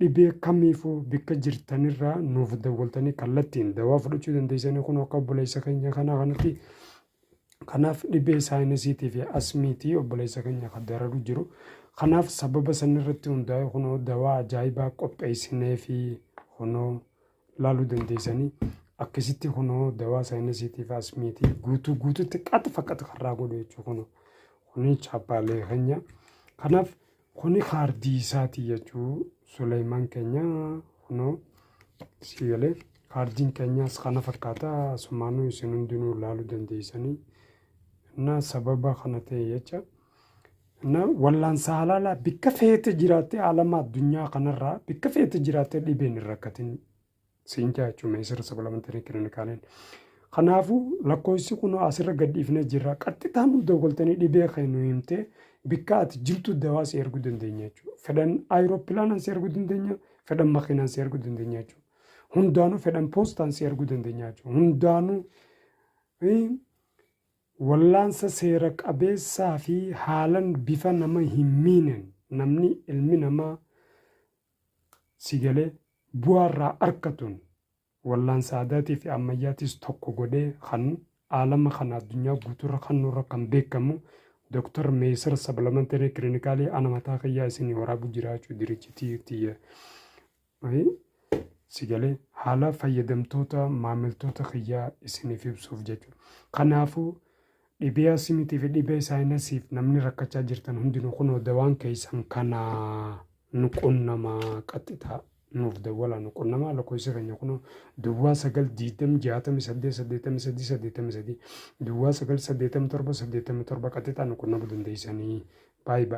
Dhibee kamiifuu bikka jirtanirraa nuuf dawwaltanii kallattiin dawaa fudhachuu dandeessanii kun akka obboleessa keenya kanaa kanatti kanaaf dhibee saayinasiitii fi asmiitii obboleessa keenya kan dararu jiru kanaaf sababa sanirratti hundaa'e kunoo dawaa ajaa'ibaa qopheessinee fi kunoo laaluu dandeessanii akkasitti kunoo dawaa saayinasiitii fi asmiitii guutuu guututti qaxfa qaxfarraa godhu jechuu kunoo kuni chaappaalee keenya kanaaf Kuni kaardii isaati jechuu Suleyman keenya kuno si galee kaardiin keenyaas kana fakkaata asumaanuu isin hundinuu laaluu dandeessanii na sababa kana ta'e jecha na wallaan saalaalaa bikka feete jiraatte alama addunyaa kanarraa bikka feete jiraatte dhibeen hin rakkatin siin jaa jechuun meesira sabalamenterii kilinikaaleen. Kanaafuu lakkoofsi kun asirra gadhiifnee jirra. Qaxxitaan nu dawwaltanii dhibee kee nu himtee bikka ati jirtu dawaa si erguu dandeenya jechuudha. Fedhan aayiroopilaanaan si erguu dandeenya, fedhan makiinaan si erguu dandeenya jechuudha. Hundaanuu fedhan poostaan si erguu dandeenya jechuudha. Hundaanuu wallaansa seera qabeessaa fi haalan bifa nama hin miinen namni ilmi namaa Si galee? Bu'aa irraa arkatuun wallaansa aadaatii fi ammayyaatis tokko godhee kan aalama kana addunyaa guutuurra kannuurra kan beekamu Dr. Meesar Sabalamantenee Kilinikaalii ana mataa kiyyaa isinii waraabu jiraachuu dirichitii tiyya. Si galee? Haala fayyadamtoota maamiltoota kiyyaa isiniif ibsuuf jechuudha. Kanaafuu Dhibee Asimitii fi Dhibee Saayinasiif namni rakkachaa jirtan hundinuu kunoo dawaan keessan kana nu qunnamaa qaxxitaa nuuf dawwalaa nu qunnamaa lakkoofsi keenya kunoo duwwaa sagal diidam jaatami saddeet saddeetami sadii saddeetami sadii duwwaa sagal saddeetami torba saddeetami torba qaxxitaa nu qunnamuu dandeessanii baay'ee baay'ee.